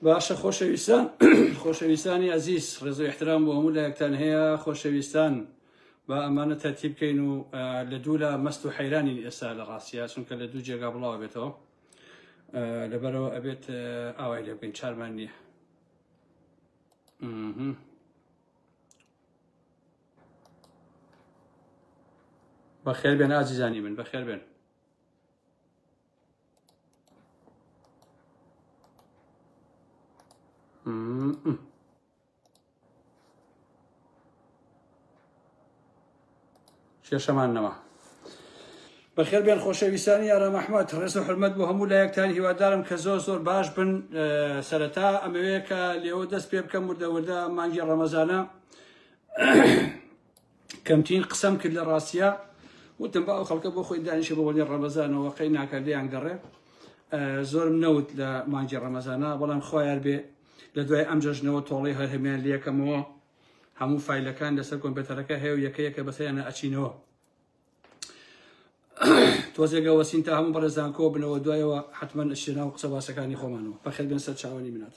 باشە خۆشەویستان خۆشەویستانی ئەزیز ڕێزو احترام بۆ هەموو لایەکتان هەیە خۆشەویستان با ئەمانە تەرتی بکەین و لە دوو لە مەست و حەیرانین ئێستا لە ڕاستە چونکە لە دوو جێگا بڵاو بێتەوە لەبەرەوە ئەبێت ئاوای لێ بکەین چارمان نییە بەخێر بێن ئازیزانی من بەخێر بێن کێشەمان نەما بەخێر بێن خۆشەویستانی یارە مححمد ڕێز و حرمەت بۆ هەموو لایەکتان هیوادارم کە زۆر زۆر باش بن سەرەتا ئەمەوەیە کە لێەوە دەست پێ بکەم وردەوردە مانگی ڕەمەزانە کەمترین قسەم کرد لە ڕاستە وتم بە ئەو خەڵکە بۆ خۆی دانیشە بە وەلی ڕەمەزانەوە قەی ناکردیان گەڕێ زۆرم نەوت لە مانجی ڕەمەزانە بەڵام خۆیان بێ لە دوای ئەم جەژنەوە تۆڵی هەر هەمیان لەکەمەوە هەموو فیلەکان لەسەر کۆمپێتەرەکە هەیە و یەکەیەکە بەسەیانە ئەچینەوە تۆزێگە وەسین تا هەموو بەڕێزان کۆ بنەوە دوایەوە حتمما شێنا و قسە باسەکانی خۆمانەوە بەخێت بن سەر چاوەنی منات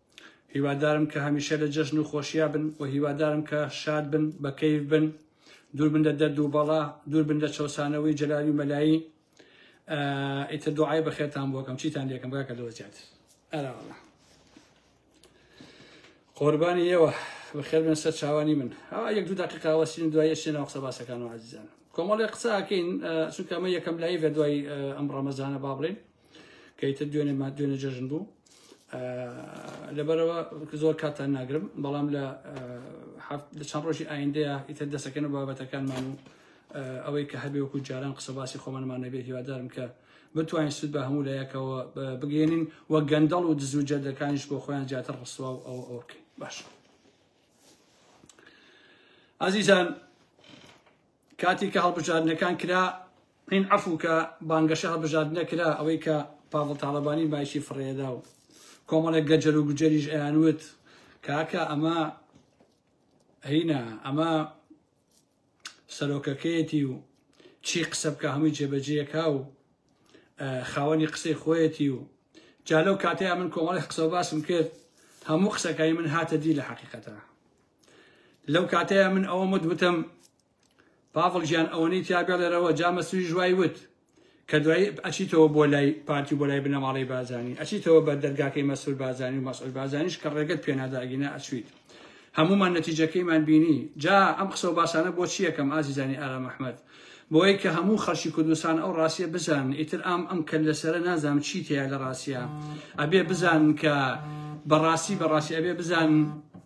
هیوادارم کە هەمیشە لە جەژن و خۆشیا بن و هیوادارم کە شاد بن بە کەیف بن دوور بن لە دەرد و بەڵا دوور بن لە چەوسانەوەی جەلاوی مەلایی ئیتر دوعای بەخێرتان بۆکەم چیتان لێکم بکە لەوە زیاتر ئەراوەڵە قوربانی ئێوە بەخێر بن سەر چاوانی من ئەوە یەک دوو دقیقاوەسین دوای سێ ناوقسە باسەکان و عزیزان کۆمەڵی قساکەین چونکە ئەمە یەکەم لای بە دوای ئەم ڕەمەزانە با بڵێن کە ئیتر دوێنێ ما دوێنێ جەژن بوو لەبەرەوە زۆر کاتان ناگرم بەڵام لە لە چەند ڕۆژی ئایندەیە ئیتر دەسەکەن و بابەتەکانمان و ئەوەی کە هەبێ وەکو جاران قسە باسی خۆمانمان نەبێ هیوادارم کە بتوانین سود بە هەموو لایەکەوە بگەێنین و گەندەڵ و دزو جەردەکانیش بۆ خۆیان زیاتر ڕسوا و ئەو ئەوکەین باش ئازیزان کاتی کە هەڵبژاردنەکان کرا این عەفو کە بانگەشە هەڵبژاردنە کرا ئەوەی کە پاڤڵ تاڵەبانی مایکی فڕێدا و کۆمەڵێک گەجەر و گوجەریش ئەیانوت کاکە ئەمە هینا ئەمە سەرۆکەکەیەتی و چی قسە بکە هەمووی جێبەجێەکە و خاوەنی قسەی خۆیەتی و جالەو کاتەیە من کۆمەڵی قسە باسم کرد هەموو قسەکانی من هاتە دی لە حقیقەتە لەو کاتەیە من ئەوەم وت وتم پاڤڵ گیان ئەوەنەی تیا بێڵێرەوە جا مەسویش وای وت کە دوایی ئەچیتەوە بۆ لای پارتی و بۆ لای بنەماڵەی بازانی ئەچیتەوە بە دەرگاکەی مەسول بازانی و مەسول بازانیش کە ڕێگەت پێناداگینە ئەچویت هەمومان نەتیجەکەیمان بینی جا ئەم قسە و باسانە بۆ چی یەکەم ئازیزانی ئارام ئەحمەد بۆیە کە هەموو خەڵکی کوردستان ئەو ڕاستیە بزان ئیتر ئام ئەم کە لەسرە نازام چی تێیا لە ڕاستە ئەبێ بزان کە بەڕاستی بەڕاستی ئەبێ بزان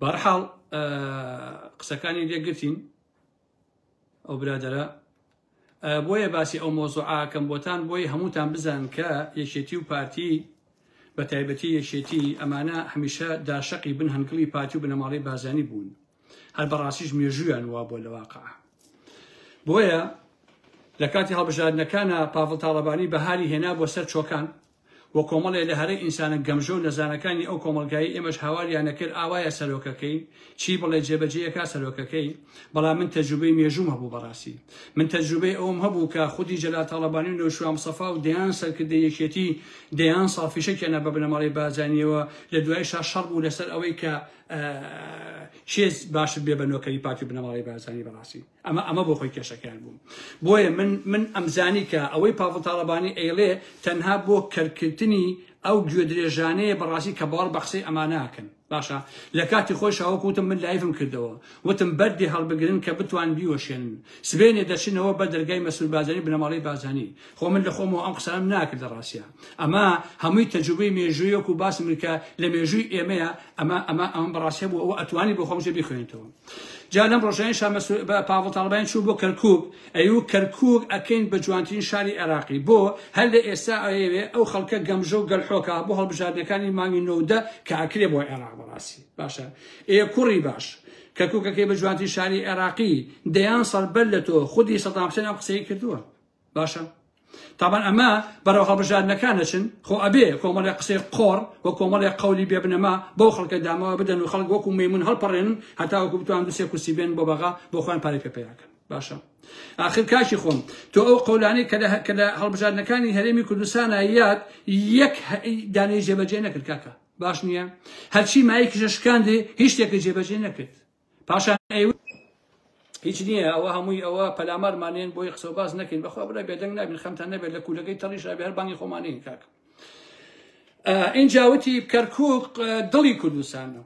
بەرحاڵ قسەکانی لێگرتین ئەو برادرە بۆیە باسی ئەو مۆزۆعاکەم بۆتان بۆی هەمووتان بزان کە یەکێتی و پارتی بە تایبەتی یەکێتی ئەمانە هەمیشە داشقی بن هەنگڵی پارتی و بنەماڵی بازانی بوون هەر بەڕاستیش مێژویان وا بۆ لە واقع بۆیە لە کاتی هەڵبژاردنەکانە پاڤڵ تاڵەبانی بەهاری هێنا بۆ سەر چۆکان و کۆمەڵێ لە هەرە ئینسانە گەمژە و نەزانەکانی ئەو کۆمەڵگایەی ئێمەش هاواریان ئەکرد ئاوایە سەرۆکەکەی چی بڵێ جێبەجێی ئەکا سەرۆکەکەی بەڵام من تەجروبەی مێژووم هەبوو بەڕاستی من تەجروبەی ئەوم هەبوو کە خودی جەلال تاڵەبانی و نەوشیروان مستەفا و دەیان سەرکردەی یەکێتی دەیان ساڵ فیشەکیانە بە بنەماڵەی بارزانیەوە لە دوایشا شەڕ بوو لەسەر ئەوەی کە کێ باشتر بێ بە نۆکەری پارتی و بنەماڵەی بارزانی بەڕاستی ئەمە ئەمە بۆ خۆی کێشەکەیان بوو بۆیە من من ئەمزانی کە ئەوەی پاڤڵ تاڵەبانی ئەیڵێ تەنها بۆ کەرکردنی ئەو گوێ درێژانەیە بەڕاستی کە باوەڕ بە قسەی ئەما ناکەن باشە لە کاتی خۆی شاوەک وتم من لایفم کردەوە وتم بەردی هەڵبگرن کە بتوان بیوەشێنن سبێنێ دەچنەوە بە دەرگای مەسول بازانی بنەماڵی بازانی خۆ من لە خۆمەوە ئەم قسانم ناکرد لە ڕاستە ئەمە هەمووی تەجوبەی مێژوویەک و باسم کە لە مێژووی ئێمەیە ئەمە ئەمە ئەم بەڕاستە بوو ئەوە ئەتوانی بۆ خۆمژێ بخوێنێتەوە جا لەم ڕۆژەین شا مەسرور بە پاڤڵ تاڵەبانی چوو بۆ کەرکوک ئەیوو کەرکوک ئەکەین بە جوانترین شاری عێراقی بۆ هەر لە ئێستا ئەیەوێ ئەو خەڵکە گەمژە و گەلحۆکە بۆ هەڵبژاردنەکانی مانگی نۆدە کە ئەکرێ بۆ عێراق بەڕاستی باشە ئێ کوڕی باش کەرکوکەکەی بە جوانترین شاری عێراقی دەیان سەربەر لە تۆ خودی سەدام حسێن ئەم قسەی کردووە باشە تابان ئەمە بەرەو هەڵبژاردنەکان دەچن خۆ ئەبێ کۆمەڵێ قسەی قۆڕ و کۆمەڵێ قولی بێبنەما بەو خەڵکە دامەوە بدەن و خەڵک وەکو مەمون هەڵپەڕێن هەتا وەکو بتوان دوسێ کورسی بێن بۆ بەغا بۆ خۆیان پارەی پێ پیاکەن باشە آخر کاکی خۆم تۆ ئەو قولانی کە لە هەڵبژاردنەکانی هەرێمی کوردستانە یاد یەک دانەی جێبەجێ نەکرد کاکە باش نییە هەرچی مایکیشە شکاندێ هیچ شتێکە جێبەجێ نەکرد پاشان ئەیوت هیچ نییە ئەوە هەمووی ئەوە پەلامارمانێن بۆی قسە و باس نەکەین بەخوا برای بێدەنگ نابین خەمتان نەبێت لە کوولەکەی تەڕیش ئەبێ هەر بانگی خۆمانەیە کاکە ئینجاوتی کەرکووک دڵی کوردستانە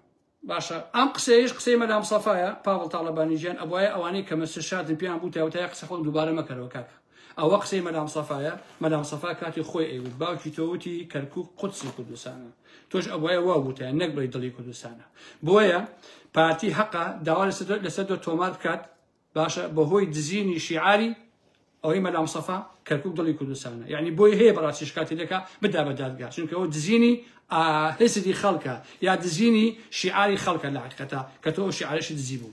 باشە ئەم قسەیش قسەی مەلام سەفاە پاڵ تاالبانی ژیان ئەوە ئەوانەی کەمە سشادن پێیان بوو تاوتای قسە خۆن دووبارە مەکەرەوە کاکە ئەوە قسەی مەلام سەفایە مەلام سەفا کاتی خۆی ئەیوت باوکی تۆ وتی کەرکوک قودسی کوردستانە تۆش ئەبواە وا وتە نەک بڵی دڵی کوردستانە بۆیە پارتی هەقا داوا لەسەر دۆ تۆمار بکات باشە بەهۆی دزینی شیعاری ئەوەی مەلام سەفا کەرکک دڵی کوردستانە یعنی بۆی هەیە بەڕاستی شکاتی دەکا بدا بە دادگا چونکەەوە دزینی هێستی خەڵکە یا دزینی شیعاری خەڵکە لە حقەتە کە تۆ شیعرشی دزی بوو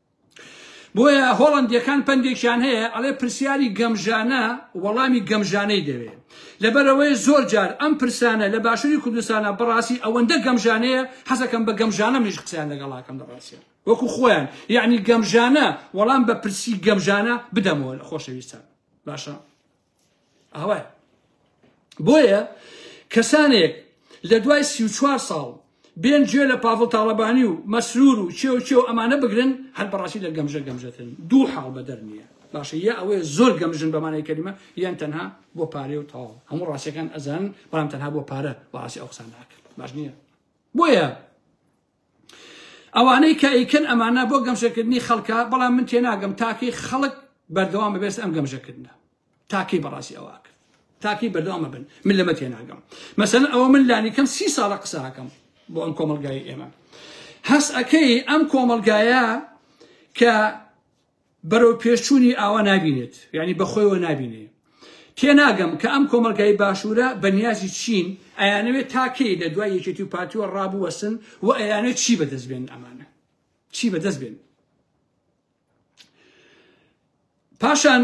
بۆیە هۆڵەندیەکان پەندێکیان هەیە ئەڵێ پرسیاری گەمژانە وەڵامی گەمژانەی دەوێ لەبەرەوەی زۆر جار ئەم پرسانە لە باشوری کوردستانە بەڕاستی ئەوەندە گەمژانەیە حەزەکەم بە گەمژانە منیش قسەیان لەگەڵاکەم لە ڕاستیان وەکو خۆیان یعنی گەمژانە وەڵام بە پرسی گەمژانە بدەمەوە لە خۆشەویستان باشە ئاوای بۆیە کەسانێک لە دوای سی و چوار ساڵ بێن گوێ لە پاڤڵ تاڵەبانی و مەسرور و چێ و چێ و ئەمانە بگرن هەر بەڕاستی لە گەمژە گەمژەتن دوو حاڵ بەدەر نییە باشە یا ئەوەیە زۆر گەمژن بەمانەی کەریمە یان تەنها بۆ پارێ و تاڵ هەموو ڕاستەکان ئەزان بەڵام تەنها بۆ پارە بەڕاستی ئەو قسان ناکرد باش نییە بۆیە ئەوانەی کە ئەیکەن ئەمانە بۆ گەمژەکردنی خەڵکە بەڵام من تێناگەم تاکەی خەڵک بەردەوام بەبێست ئەم گەمژەکردە تاکەی بەڕاستی ئەوە کرد تاکەی بەردەوامە بن من لەمە تێناگەم مەسەن ئەوە من لانیکەم سی ساڵە قساکەم بۆ ئەم کۆمەلگای ئێمە هەست ئەەکەی ئەم کۆمەلگایە کە بەرەو پێشچوونی ئاوا نابینێت یانی بەخۆیەوە نابینێ تێناگەم کە ئەم کۆمەڵگای باشوورە بە نیازی چین ئەیانەوێت تا کەی لە دوای یەکێتی و پارتیوە ڕابوەسن و ئەیانەوێت چی بەدەست بێن ئەمانە چی بەدەست بێن پاشان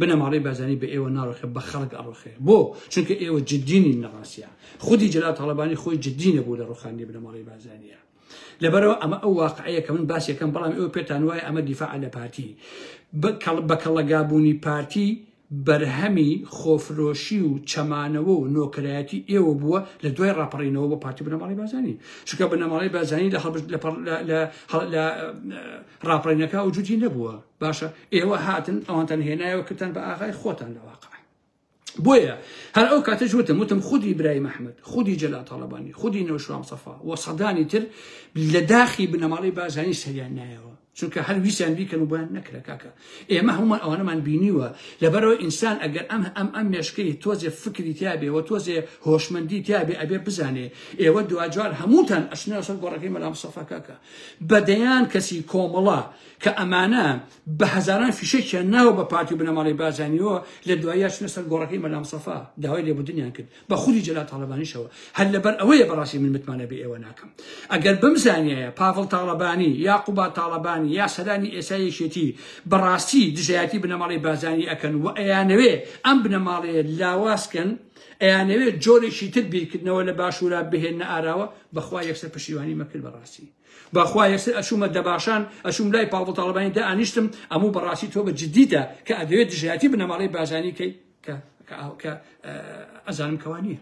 بنەماڵەی بارزانی بە ئێوە ناڕوخێ بە خەڵک ئەڕوخێ بۆ چونکە ئێوە جددی نین لە ڕاستیا خودی جەلال تاڵەبانی خۆی جددی نەبوو لە ڕوخاندنی بنەماڵەی بارزانیە لەبەرەوە ئەمە ئەو واقعەیە کە من باس یەکەم بەڵام ئێوە پێتان وایە ئەمە دیفاع لە پارتی بە کەڵەگابوونی پارتی بەرهەمی خۆفرۆشی و چەمانەوە و نۆکرایەتی ئێوە بووە لە دوای ڕاپەڕینەوە بۆ پارتی بنەماڵی بازانی چونکە بنەماڵی بازانی لە ڕاپەڕینەکە و جوتی نەبووە باشە ئێوە هاتن ئەوانتان هێنایەوە کردن بە ئاغای خۆتان لە واقع بۆیە هەر ئەو کاتەش وتم وتم خودی برای مححمد خودی جەلا تاالبانی خودی نەوشام سەفا و سەدانی تر لە داخی بنەماڵی بازانی سەریان نایەوە چونکە هەر ویسیان بیکەن و بۆیان نەکرە کاکە ئێمە هەمومان ئەوانەمان بینیوە لەبەرەوە ئینسان ئەگەر ئەم ئەم ئەم مێشکەی تۆزێ فکری تیاابێەوە تۆزێ هۆشمەندی تیاابێ ئەبێ بزانێ ئێوە دواجار هەمووتان ئەشناسەر گۆڕەکەی مەلام سەفا کاکە بەدەیان کەسی کۆمەڵە کە ئەمانە بە هەزاران فیشەکیان ناوە بە پارتی و بنەماڵی بازانیەوە لە دوایە چنە سەر گۆڕەکەی مەلام سەفا داوای لێبدنیان کرد بە خودی جەلا تاالبانیشەوە هەر لەبەر ئەوەیە بەڕاستی من متمانە بە ئێوە ناکەم ئەگەر بم زانایە پاڤڵ تاالبانی یا قوبا تاالبانی یا سەرانی ئێسایەکێتی بەڕاستی دژایەتی بنەماڵی بازانی ئەکەن و ئەیانەوێ ئەم بنەماڵێ لاوازکەن ئەیانەوێت جۆرێکی تر بیرکردنەوە لە باشوورا بهێنە ئاراوە بەخوا یەکسەر پشیوانی مەکرد بەڕاستی بەخوا یەکسەر ئەچوومە دەباشان ئەچووم لای پاڤڵ تاڵەبانی دائەنیشتم ئەموو بەڕاستی تۆ بە جدیتە کە ئەدەوێت دژایەتی بنەماڵەی بارزانی کەی کە کە ئەزانم کەوا نییە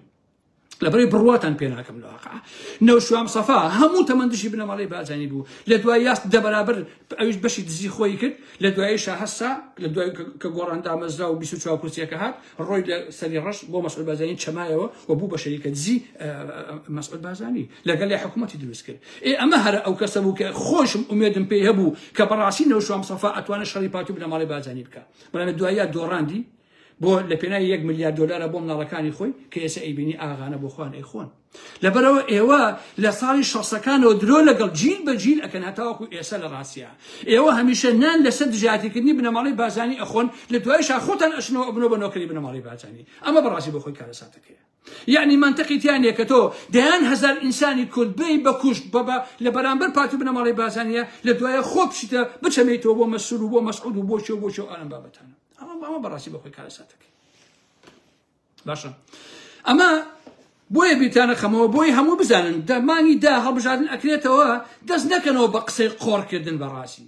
لەبەری بڕواتان پێ ناکەم لە واقع نەوشوام سەفا هەموو تەمەند دژی بنەماڵی بازانی بوو لە دوای یاست دەبەرابر ئەویش بەشی دزی خۆی کرد لە دوای شاهسا لە دوای کە گۆڕان دامەزرا و 24 کورسیەکە هات ڕۆی لە سەری ڕەش بۆ مەسعود بازانی چەمایەوە و بوو بە شەریکە دزی مەسعود بازانی لەگەڵ لە حکوومەتی دروست کرد ئێ ئەمە هەرە ئەو کەسە بوو کە خۆشم ئومێدم پێی هەبوو کە بەڕاستی نەوشام سەفا ئەتوانە شەڕی پاتوو بنە ماڵی بازانی بکە بەڵام دوایە دۆڕاندی بۆ لە پێناوی یەک ملیار دۆلارە بۆ مناڵەکانی خۆی کە ئێسە ئەیبینی ئاغانە بۆ خوان ئەیخۆن لەبەرئەوە ئێوە لە ساڵی شەسەکانەوە درۆ لەگەڵ جیل بە جیل ئەکەن هەتاوەکو ئێسە لە ڕاستیا ئێوە هەمیشە نان لەسەر دژایەتیکردنی بنەماڵەی بارزانی ئەخۆن لە دوایشا خۆتان ئەچنەوە ئەبنەوە بە نۆکەری بنەماڵەی بارزانی ئەمە بەڕاستی بۆ خۆی کارەساتەکەیە یعنی منطقی تیا نییە کە تۆ دەیان هەزار ئینسانی کورد بێی بە کوشت بەبە لە بەرامبەر پارتی بنەماڵەی بارزانیە لە دوایە خۆ بچیتە بچەمێتەوە بۆ مەسول و بۆ مەسعود و بۆ شێو بۆ شێو ئالم بابەتانە ئەمە بەڕاستی بە خۆی کارەساتەکەی باشە ئەمە بۆیە بیرتانە خەمەوە بۆی هەموو بزانن دەمانی دا هەڵبژاردن ئەکرێتەوە دەست نەکەنەوە بە قسەی قۆڕکردن بەڕاستی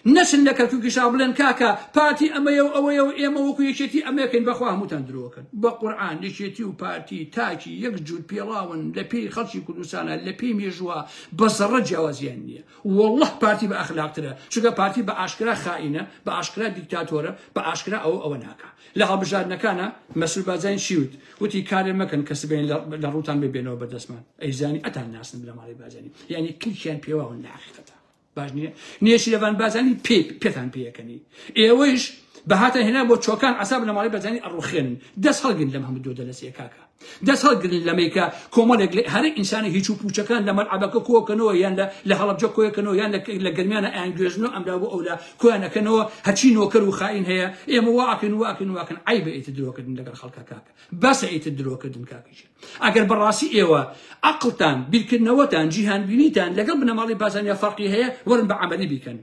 نەچن لە کەرکوکی شا بڵێن کاکە پارتی ئەمەیە و ئەوەیە و ئێمە وەکو یەکێتی ئەمەکەین بەخوا هەمووتان درۆکەن بە قورآان یەکێتی و پارتی تاکی یەک جوود پێڵاون لە پێی خەڵکی کوردستانە لە پێی مێژووە بە زەڕە جیاوازیان نییە والله پارتی بە ئەخلاقترە چگە پارتی بە ئاشکرا خائینە بە ئاشکرا دیکتاتۆرە بە ئاشکرا ئەو ئەوە ناکە لە هەڵبژاردنەکانا مەسرور بارزانی چی وت وتی کارێ مەکەن کە سبەین لە ڕووتان ببێنەوە بەدەستمان ئەیزانی ئەتان ناسن بنەماڵەی بارزانی یعنی کلکیان پێواون لە حقیقەتە باش نییە نێچیرەڤان بارزانی پێ پێتان پێیەکەنی ئێوەیش بەهاتە هێنا بۆ چۆکان عساب بنەماڵەی بارزانی ئەڕوخێنن دەست هەڵگرن لەم هەموو دۆ دەلەسەیە کاکە دەست هەڵگرن لەمەی کە کۆمەڵێک لە هەرە ئینسانی هیچ و پوچەکان لە مەلعەبەکە کۆکەنەوە یان لە لە هەڵەبجە کۆیەکەنەوە یان لە گەرمیانە ئەیان گوێزن و ئەملا بۆ ئەولا کۆیان ئەکەنەوە هەچی نۆکەر و خائین هەیە ئێمە واکەن واکەن واکەن عیبە ئیتر درۆکردن لەگەڵ خەڵکە کاکە بەسە ئیتر درۆکردن کاکەژیر ئەگەر بەڕاستی ئێوە عقلتان بیرکردنەوەتان جیهانبینیتان لەگەڵ بنەماڵی بازانیا فەرقی هەیە وەرن بە عملی بیکەن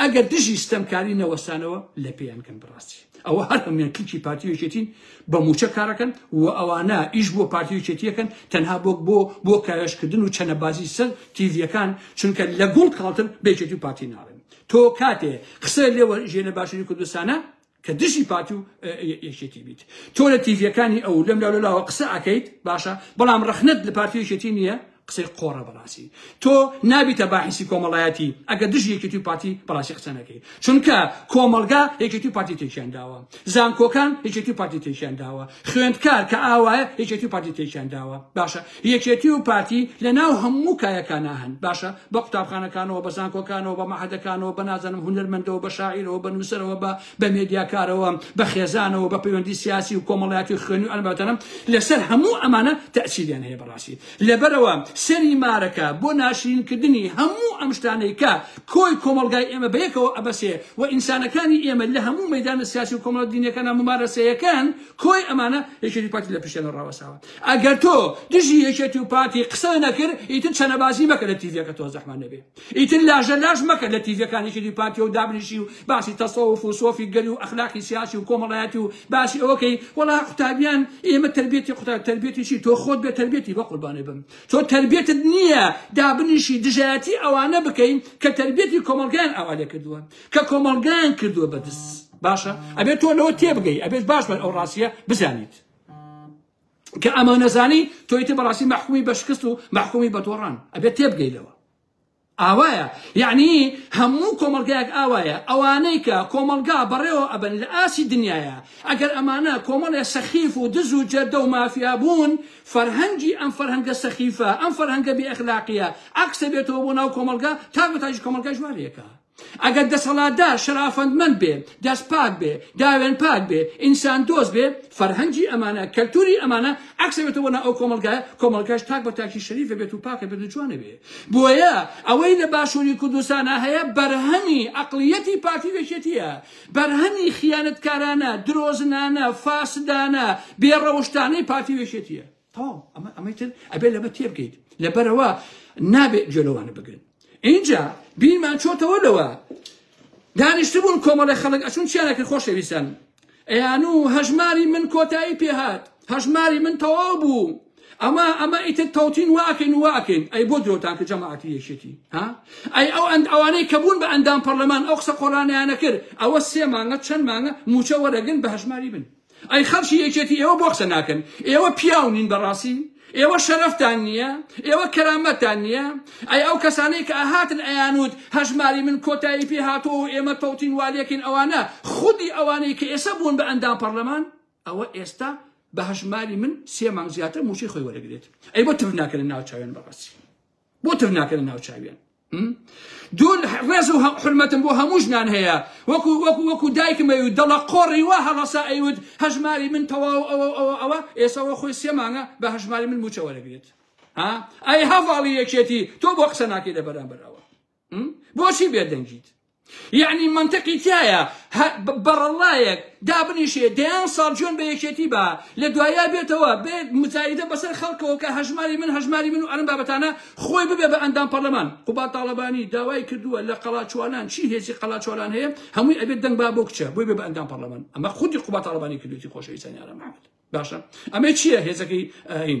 ئەگەر دژی ستەمکاری نەوەستانەوە لە پێیان کەن بڕاستی ئەوە هەر هەموان کلکی پارتیەکێتین بە موچە کارەکەن و ئەوانە ئیش بۆ پارتیەکێتیەکەن تەنها بۆ بۆ بۆ کاوێشکردن و چەنەبازی سەر تیڤەکان چونکە لە گوڵ کاڵتر بێکێتی و پارتی ناڵێن تۆ کاتێ قسە لێوە ژێنە باشوری کوردستانە کە دژی پارتی و یەکێتی بیت تۆ لە تیڤیەکانی ئەو لەم لاولەلاوە قسە ئەکەیت باشە بەڵام ڕخنت لە پارتی و یەکێتی نییە قسەی قۆڕە بەڕاستی تۆ نابیتە باحیسی کۆمەڵایەتی ئەگە دژ یەکێتی و پارتی بەڕاستی قسە نەکەی چونکە کۆمەڵگا یەکێتی و پارتی تێکیان داوە زانکۆکان یەکێتی و پارتی تێکیان داوە خوێندکار کە ئاوایە یەکێتی و پارتی تێکیان داوە باشە یەکێتی و پارتی لە ناو هەموو کایەکانا هەن، باشە بە قوتابخانەکانەوە، بە زانکۆکانەوە، بە مەعهەدەکانەوە، بە نازانم هونەرمەندەوە، بە شاعیرەوە، بە نووسەرەوە، بە بە مێدیاکارەوە، بە خێزانەوە، بە پەیوەندی سیاسی و کۆمەڵایەتی و خوێنی و ئەم بابەتانە، لەسەر هەموو ئەمانە تەئسیریان هەیە بەڕاستی لەبەرئەوە سەری مارەکە بۆ ناشرین کردنی هەموو ئەم شتانەی کە کۆی کۆمەڵگای ئێمە بە یەکەوە ئەبەسێ و ئینسانەکانی ئێمە لە هەموو مەیدانە سیاسی و کۆمەڵە دینیەکانا مومارەسەیەکەن کۆی ئەمانە یەکێتی و پارتی لە پشتیانە ڕاوەستاوە. ئەگەر تۆ دژی یەکێتی و پارتی قسە نەکرد ئیتر چەنەبازی مەکە لە تیڤەکە تۆ زەحمە نەبێ ئیتر لاژە لاش مەکە لە تیڤەکانی یەکێتی پارتی و دابنیشی و باسی تەسەوف و سۆفی گەلی و ئەخلاقی سیاسی و کۆمەڵایەتی و باسی ئەوەکەی وەڵا قوتابیان ئێمە تربیەتی قوتاب تربیەتی چی تۆ خۆت بێ تربیەتی بە قوربانێ بم تۆ تربیەتت نییە دابنیشی دژایەتی ئەوانە بکەین کە تربیەتی کۆمەڵگەیان ئاوالێ کردووە کە کۆمەڵگەیان کردووە بەدز باشە ئەبێت تۆ لەوە تێبگەی ئەبێت باش بەر ئەو ڕاستیە بزانیت کە ئەمە نەزانی تۆیتە بەڕاستی مەحکومی بە شکست و مەحکومی بە تۆڕان ئەبێت تێبگەیلەوە ئاوایە یعنی هەموو کۆمەلگایەک ئاوایە ئەوانەی کە کۆمەلگا بەڕێوە ئەبن لە ئاسی دنیاە ئەگەر ئەمانە کۆمەڵێ سەخیف و دز و جەردە و مافیا بوون فەرهەنگی ئەم فەرهەنگە سەخیفە ئەم فەرهەنگە بێ ئەخلاقیە عکسە بێتەوە بۆ ناو کۆمەلگا تا بەتاژی کۆمەلگای ژوارەکە ئەگەر دەسەڵاتدار شەرافەندمەند بێ، دەست پاک بێ، داوێن پاک بێ، ئینسان دۆست بێ، فەرهەنگی ئەمانە، کەلتوری ئەمانە عەکس ئەبێتە بۆ ناو ئەو کۆمەڵگایە، کۆمەڵگاش تاک بە تاکی شەریف ئەبێت و پاک ئەبێت و جوان ئەبێ. بۆیە ئەوەی لە باشوری کوردستانا هەیە بەرهەمی عەقڵیەتی پارتی و یەکێتیە. بەرهەمی خیانەتکارانە، درۆزنانە، فاسدانە، بێ ڕەوشتانەی پارتی و یەکێتیە. تەواو ئەمە ئەمەی تر ئەبێ لەمە تێبگەیت لەبەرەوە نابێت گوێ لەوانە بگرن اینجا بیرمان چۆتەوە لەوە دانیشتبوون کۆمەڵی خەڵک ئەچون چیانەکرد خۆشەویستان ئەیان و هەژماری من کۆتایی پێهات هەژماری من تەواو بوو ئەمە ئەمە ئیتر تەوتین واکەین واکەین ئەی بۆ درۆتان کە جەماعەتی یەکێتی ها ئەی ئەو ئەند ئەوانەی کە بوون بە ئەندام پەرلەمان ئەو قسە قۆرانیانە کرد ئەوە سێ مانگە چەند مانگە موچە وەرەگن بە هەژماری بن ئەی خەڵکی یەکێتی ئێوە بۆ قسە ناکەن ئێوە پیاو نین بەڕاستی ئێوە شەرەفتان نییە ئێوە کەرامەتان نییە ئەی ئەو کەسانەی کە ئاهاتن ئەیانوت هەژماری من کۆتایی پێ هاتەوە و ئێمە تەوتین والێکین ئەوانە خودی ئەوانەی کە ئێستا بوون بە ئەندام پەرلەمان ئەوە ئێستا بە هەژماری من سێ مانگ زیاتر موچەی خۆی وەرەگرێت ئەی بۆ تف ناکەنە ناو چاویان بەڕاستی بۆ تف ناکەنە ناو چاویان دوون ڕێز و حرمەتم بۆ هەموو ژنان هەیە وەکو وەکو وەکو دایکمەوی و دەڵە قۆڕی وا هەڵەسا ئەیوت هەژماری من تەواو ئەوە ئەوە ئەوە ئێسەوە خۆی سێمانە بە هەژماری من موچەوە دەگرێت ئەی هەواڵی یەکێتی تۆ بۆ قسە ناکەی لە بەرامبەرەوە بۆچی بێدەنگیت یعنی منطقی تایە بەڕەڵایەک دابنیشێ دەیان ساڵ جوێن بە یەکێتی با لە دوایە بێتەوە بێ مزایدە بەسەر خەڵکەوە کە هەژماری من هەژماری من و ئەرم بابەتانە خۆی ببێ بە ئەندام پەرلەمان قوبا تاڵەبانی داوای کردووە لە قەڵاچوانان چی هێزی قەڵاچوانان هەیە هەمووی ئەبێت دەنگ با بۆ کچە بۆی بێ بە ئەندام پەرلەمان ئەمە خودی قوبا تاڵەبانی کردوێتی خۆشەویستانی ئارام محمد باشە ئەمە چییە هێزەکەی ئاین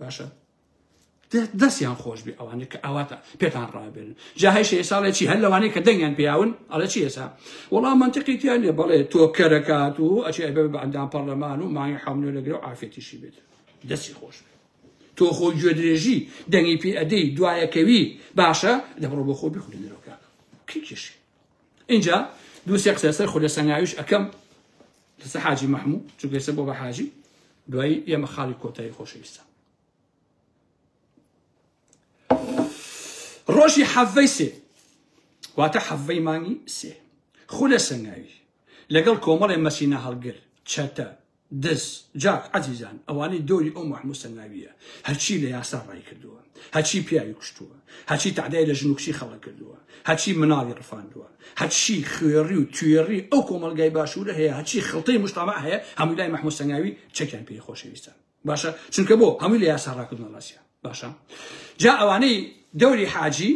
باشە دەستیان خۆش بێ ئەوانە کە ئاواتە پێتان ڕابێن جاهیش ئێساڵێ چی هەر لەوانەیە کە دەنگیان پیاون ئەڵە چی ئێسا وەڵام منتقی تیان لێ بەڵێ تۆ کەرەکات و ئەچی ئەبێ بە ئەندام پەرلەمان و مانگی حملێ لەگرێ و ئافێتیشی بێت دەستی خۆش بێ تۆ خۆ گوێدرێژی دەنگی پێ ئەدەی دوایەکەوی باشە دەبڕۆ بۆ خۆ بخورێنەرەوەکە کێکیشی ئینجا دوو سێ قسە لەسەر خولە سەنگاویش ئەکەم لەسەر حاجی مەحموو چونکە ئێستا بۆ بە حاجی دوایی ئێمە خاڵی کۆتایی خۆشەویستە ڕۆژی حەڤەی سێ واتە حەڤەی مانگی سێ خولە سەنگاوی لەگەڵ کۆمەڵێ مەسینە هەڵگر چەتە دز جاک عەزیزان ئەوانەی دۆری ئەو مەحموسە ناویە هەرچی لە یاسا ڕای کردووە هەرچی پیاوی کوشتووە هەرچی تەعدای لە ژن و کچی خەڵک کردووە هەرچی مناڵی ڕفاندووە هەرچی خوێڕی و توێڕی ئەو کۆمەڵگای باشوورە هەیە هەرچی خڵتەی مشتەمع هەیە هەمووی لای مەحموسە ناوی چەکیان پێی خۆشەویستە باشە چونکە بۆ هەمووی لە یاسا ڕاکردنە ڕاستە باشە جا ئەوانەی دەوری حاجی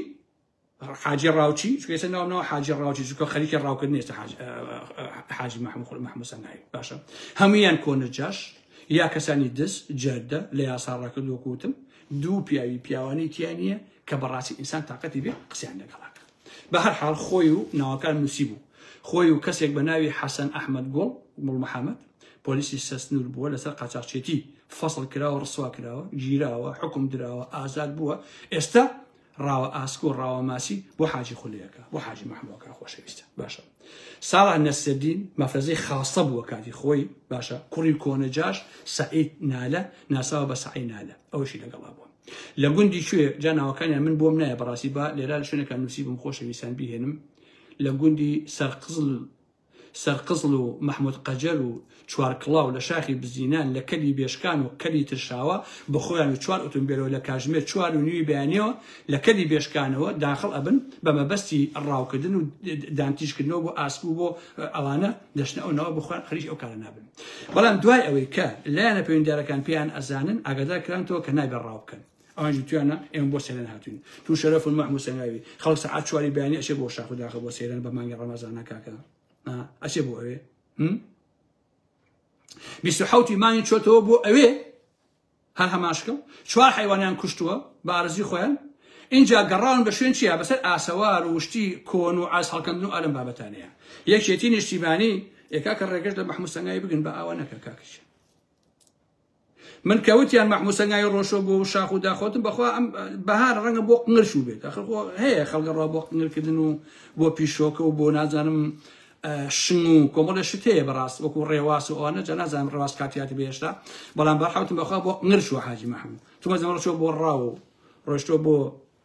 حاجی ڕاوچی چونکە ئێستا ناوم ناوە حاجی ڕاوچی چونکە خەریکی ڕاوکردنی ئێستا حاج- ئە- حاجی محمود خول محمود سەنایی باشە هەمویان کۆنە جاش یا کەسانی دز جەردە لە یاسا ڕاکرد وەکو وتم دوو پیاوی پیاوانی تیا نییە کە بەڕاستی ئینسان تااقەتی بێ قسەیان لەگەڵاکە بە هەر حاڵ خۆی و ناوەکان نووسی بوو خۆی و کەسێک بە ناوی حەسەن ئەحمد گوڵ گوڵ محەممەد پۆلیسی سەسنور بووە لەسەر قاچاقچێتی فەصل کراوە ڕسوا کراوە گیراوە حکم دراوە ئازاد بووە ئێستا ڕاوە ئاسک و ڕاوە ماسی بۆ حاجی خولەکە بۆ حاجی مەحموەکە خۆشەویستە باشە ساڵح نەسەدین مەفرەزەی خاستە بووە کاتی خۆی باشە کوڕی کۆنە جاش سعید نالە ناساوە بە سعی نالە ئەوشی لەگەڵا بووە لە گوندی کوێ جا ناوەکانیان من بۆم نایە بەڕاستی با لێرا لە شوێنەکە نووسی بم خۆشەویستان بهێنم لە گوندی سەرقزل سەرقزڵ و مەحمود قەجەر و چوارکڵاو لە شاخی بزینان لە کەلی بێشکان و کەلی ترشاوە بە خۆیان و چوار ئوتومبێلەوە لە کاژمێر چوار و نیوی بەیانیەوە لە کەلی بێشکانەوە داخڵ ئەبن بە مەبەستی ڕاوکردن و دانتیژکردنەوە بۆ ئاسک و بۆ ئەوانە دەچنە ئەو ناوە بە خۆیان خەریکی ئەو کارە نابن بەڵام دوای ئەوەی کە لایەنە پەیوەندیدارەکان پێیان ئەزانن ئاگادار کرانەوە کە نابێت ڕاو بکەن ئاژی تویانە ئێمە بۆ سەیران هاتوین تو شەرەف و مەحموو سەناوی خەڵک سەعات چواری بەیانی ئەچێ بۆ شاخ و داخە بۆ سەیران بە مانگی ڕەمەزانە کاکە ئەچێ بۆ ئەوێ بیست و حەوتی مانگی چۆتەوە بۆ ئەوێ هەر هەماشکە چوار حیوانیان کوشتووە بە ئارزی خۆیان اینجا گەڕان بە شوێن چیە بەسەر ئاسەوار و شتی کۆن و ئاز هەڵکەندن و ئەلم بابەتانەیە یەکێتی نیشتیمانی ئێکا کە ڕێگەش لە مەحموسەنگای بگن بە ئاوە نەکە کاکەش من کە وتیان مەحموو سەنگاوی ڕۆشۆ بۆ شاخ و داخۆتم بەخوا ئەم بەهار ڕەنگە بۆ قنگەر شوو بێت ئەخر خۆ هەیە خەڵکە ڕا بۆ قنگەرکردن و بۆ پیشۆکە و بۆ نازانم شنگ و کۆمەڵە شت هەیە بەڕاست وەکو ڕێواس و ئەوانە جا نازانم ڕێواس کاتیاتی بێشتا بەڵام بەرحەوتم بەخوا بۆ قنگەر شوو حاجی مەحموو چوومە زەمەڕ شۆ بۆ ڕاو ڕۆشتۆ بۆ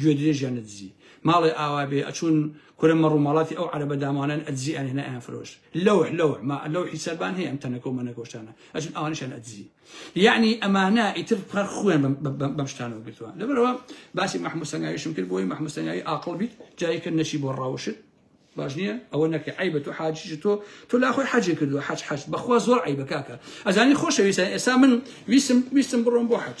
گوێ درێژیان ئەدزی ماڵێ ئاوا بێ ئەچوون کورە مەڕ و ماڵاتی ئەو عەرەبە دامانەن ئەدزی ئەنهێنا ئەیان فرۆشت لەوح لەوح ما لەوحی سەربان هەیە ئەم تەنەکە و مەنەکۆشتانە ئەچوون ئەوانیشان ئەدزی یعنی ئەمانە ئیتر هەر خوێن بەم- بەم بەم- بەم شتانەوە گرتووە لەبەرەوە باسی محمود سەنگاویشم کرد بۆی محمود سەنگاوی ئاقڵ بیت جاری کرد نەچی بۆ ڕاوشت باش نییە ئەوە نەکە عیبە تۆ حاجیش تۆ تۆ لا خۆی حەجێ کردو حەج حەج بەخوا زۆر عیبە کاکە ئەزانی خۆشەویستە ئێستا من ویستم ویستم بڕۆم بۆ حەج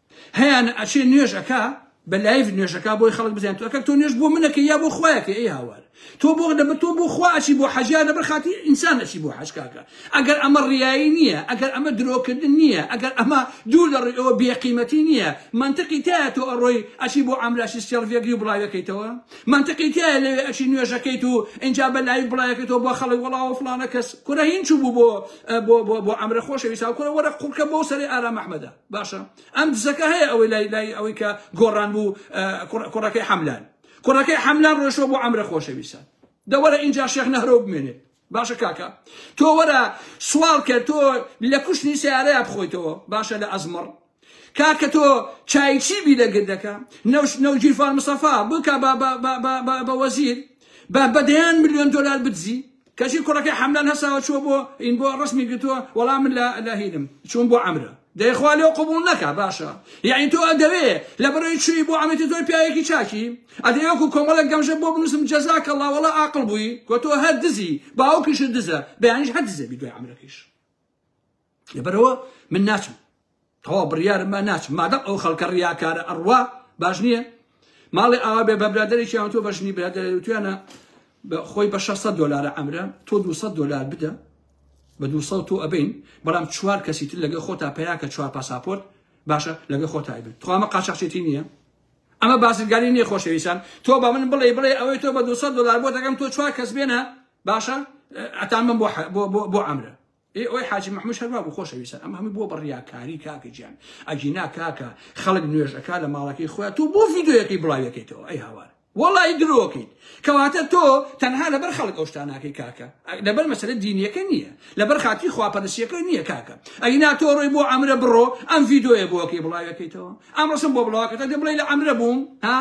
هەیانە ئەچێ نوێژ ئەکا بە لایڤ نوێژ ئەکا بۆی خەڵک بزانێت تۆ ئەکەک تۆ نوێژ بۆ من ئەکەی یا بۆ خوا ئەکەی ئەی هاوار تۆ بۆ دەبە تۆ بۆ خوا ئەچی بۆ حەج یا لەبەر خاتی ئینسان ئەچی بۆ حەج کاکە ئەگەر ئەمە ڕیایی نییە ئەگەر ئەمە درۆکردن نییە ئەگەر ئەمە دوو لە ڕووی ئەوە بێقیمەتی نییە منطقی تایە تۆ ئەڕۆی ئەچی بۆ ئامراشی سێڵڤێگری و بڵاوەکەیتەوە منطقی تایە لەوێ ئەچی نوێژەکەیت و ئینجا بە لایڤ بڵایەکەیتەوە بۆ خەڵک وەڵاوە فڵانە کەس کورە هین چوو بوو بۆ بۆ بۆ بۆ ئەمرە خۆشەویستا کورە وەرە قوڕکە بەو سەری ئارام ئەحمەدە باشە ئەم دزەکە هەیە ئەوەی لای لای ئەوەی کە گۆڕان بوو کوڕەکەی حەملان کوڕەکەی حەملان ڕۆشەوە بۆ ئەمرە خۆشەویستە دەوەرە اینجا شێخ نەهرۆ بمێنێت باشە کاکە تۆ وەرە سوال کرد تۆ لە کوشتنی سیارەیە بخۆیتەوە باشە لە ئەزمڕ کاکە تۆ چایچی بی لە گردەکە نەوش نەوجیرفان مسەفا بکە بە وەزیر بە بەدەیان میلیۆن دلار بدزی کەچی کوڕەکەی حەملان هەساوە چووە بۆ ین بۆ ڕسمی گرتووە وەڵا من لە لە هینم چووم بۆ عەمرە دەی خوا لێو قبوڵ نەکا باشە یعنی تۆ ئەدەوێ لە بەرەی چووی بۆ عەمەتی تۆی پیاوێکی چاکی ئەدەی وەکو کۆمەڵێک گەمژە بۆ بنووسم جەزاک اللە وەڵا ئاقڵ بووی گۆ تۆ هەر دزی باوکیشت دزە بەیانیش هەر دزە بی دوای عەمرەکەیش لەبەرەوە من ناچم تەوا بڕیارم با ناچم مادەم ئەو خەڵکە ڕیاکارە ئەڕوا باش نییە ماڵی ئاوا بێ بە برادێکیان تۆ بەژنی برادێتویانە خۆی بە 600 دلارە ئەمرە تۆ 200 دلار بدە بە 200 تۆ ئەبین بەڵام چوار کەسی تر لەگە خۆتا پیاکە چوار پاساپۆرت باشە لەگە خۆتای بێت توامە قاچەخچێتی نییە ئەمە بازرگانی نیە خۆشەویستان تۆ بە من بڵێ بڵێ ئەوەی تۆ بە 200 دلار بۆ دەگەم تۆ چوار کەس بێنە باشە ئەتان من بۆ بۆ ئەمرە ئێ ئۆی حاجی مەحموش هەر وابوو خۆشەویستان ئەمە هەمووی بووە بە ڕیاکاری کاکە گیان ئەگینا کاکە خەڵک نوێژ ئەکا لە ماڵەکەی خۆیان تۆ بۆ ڤیدیۆیەکەی بڵاوی ئەکەیتەوە ئەی هاوار وەڵای درۆکەیت کەواتە تۆ تەنها لەبەر خەڵک ئەو شتانەکەی کاکە لەبەر مەسەلە دینیەکە نییە لەبەر خاتی خواپەرسیەکە نییە کاکە ئەگینا تۆ ڕۆی بۆ ئەمرە بڕۆ ئەم ڤیدیۆیە بۆکەی بڵاوەکەیتەوە ئەمڕۆشم بۆ بڵاوکەتە دە بڵێ لە ئەمرە بووم ها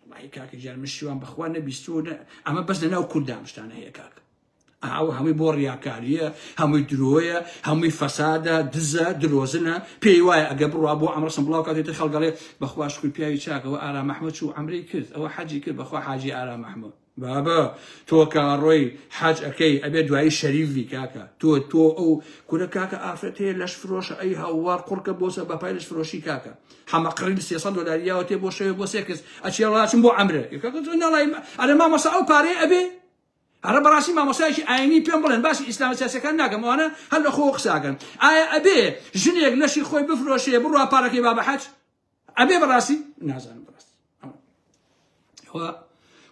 وڵی کاکە جار من شیوان بەخوا نەبیستوە ئەمە بەس لەناو کوردام شتانە هەیە کاکە ئاوە هەمووی بۆ ڕیاکاریە هەمووی درۆیە هەمووی فەسادە دزە درۆزنە پێی وایە ئەگە بڕوا بۆ ئەمڕسم بڵاو کاتێتی خەڵگەڵێ بەخواش کوی پیاوی چاکەوە ئارا مححمد چوو ئەمری کرد ئەوە حەجی کرد بەخوا حاجی ئارا مححمد بابە تۆ کاڕۆی حاج ئەەکەی ئەبێ دوایی شەریفی کاکە تۆ تۆ ئەو کورە کاکە ئافرەت هەیە لەش فرۆشە ئەی هاوار قڕکە بۆسە بەپای لەش فرۆشی کاکە حەمە قڕین 300 دلاریاوە تێ بۆ شەوێ بۆ سێکس ئەچێڵاچم بۆ ئەمرە ئەرە مامەسا ئەو پارەی ئەبێ ئەرە بەڕاستی مامۆستایەکی ئاینی پێم بڵێن باسی ئیسلامە سیاسیەکان ناکەم ئەوانە هەر لە خۆوە قسە ئەکەن ئایا ئەبێ ژنێک لەشی خۆی بفرۆشێ بڕوا پارەکەی با بە حەج ئەبێ بەڕاستی نازانم بەڕاستی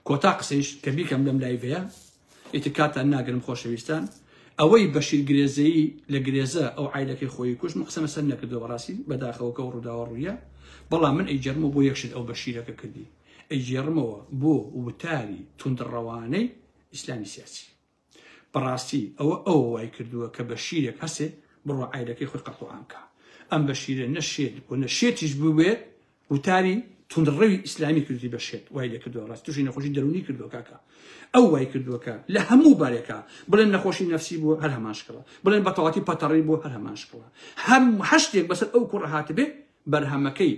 کۆتا قسەیش کە بیکەم لەم لایڤەیە ئیتر کاتان ناگرم خۆشەویستان ئەوەی بەشیر گرێزەیی لە گرێزە ئەو عیلەکەی خۆی کوش مقسەمە سەر نەکردەوە ڕاستی بەداخەوەکە و ڕووداوە ڕوویە بەڵام من ئەیجەرمە بۆ یەکشت ئەو بەشیرەکە کردی ئەیگێڕمەوە بۆ وتاری توندڕەوانەی ئیسلامی سیاسی بەڕاستی ئەوە ئەو وای کردووە کە بە شیرێک هەسێ بڕۆ عیرەکەی خۆی قەتڵعامکە ئەم بە شیرە نە شێت بۆ نە شێتیش بووێت وتاری تونڕەوی ئیسلامی کردی بەشێت وای لە کردو ڕاست توشی نەخۆشی دەرونی کردو کاکە ئەو وای کردووەکە لە هەموو بارێکە بڵێن نەخۆشی نفسی بوو هەر هەماشکەوە بڵێن بەتەواتی پەتەڕی بۆ هەر هەماشکەوە هەم هەشتێک بەسەر ئەو کوڕ هاتبێ بەرهەمەکەی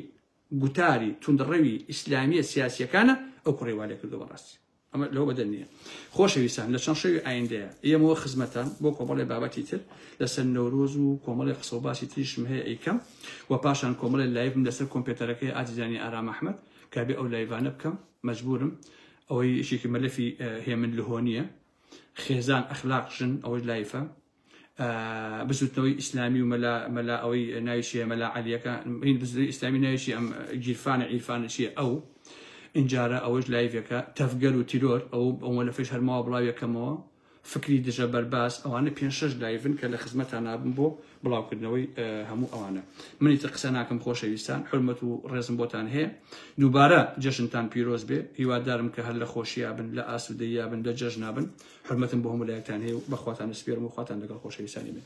گوتاری توندڕەوی ئیسلامیە سیاسیەکانە ئەو کوڕی والێکردوە بەڕاستی ئەمە لەو بەدەر نییە خۆشەویستان لە چەند شەوی ئایندەیە ئێمەوە خزمەتان بۆ کۆمەڵی بابەتی تر لەسەر نەورۆز و کۆمەڵی قسە و باسی تریشم هەیە ئەیکەم و پاشان کۆمەڵی لایڤم لەسەر کۆمپێتەرەکەی ئازیزانی ئارام ئەحمد کابێ ئەو لایڤانە بکەم مەجبورم ئەوەی یەکێکی مەلەفی هێمن لهۆنیە خێزان ئەخلاق ژن ئەوەی لایفە بزوتنەوەی ئیسلامی و مەلا مەلا ئەوەی ناوی چیە مەلا عەلیەکە هین بزوتنەوەی ئیسلامی ناوی چی ئەم گیرفانە عیرفانە چیە ئەو ئینجارە ئەوەش لایڤەکە تەفگەر و تیرۆر ئەو ئەوە لە فش هەرماوە بڵاویەکەمەوە فکری دژە بەرباس ئەوانە پێ شش لایڤن کە لە خزمەتان نابم بۆ بڵاوکردنەوەی هەموو ئەوانە منی تر قسە ناکەم خۆشەویستان حرمەت و ڕێزم بۆتان هەیە دووبارە جەژنتان پیرۆز بێ هیوادارم کە هەر لە خۆشییا بن لە ئاسوودەییا بن لە جەژنا بن حورمەتم بۆ هەموو لایەکتان هەیە و بە خواتان ئەسپێرم و خواتان لەگەڵ خۆشەویستانی من.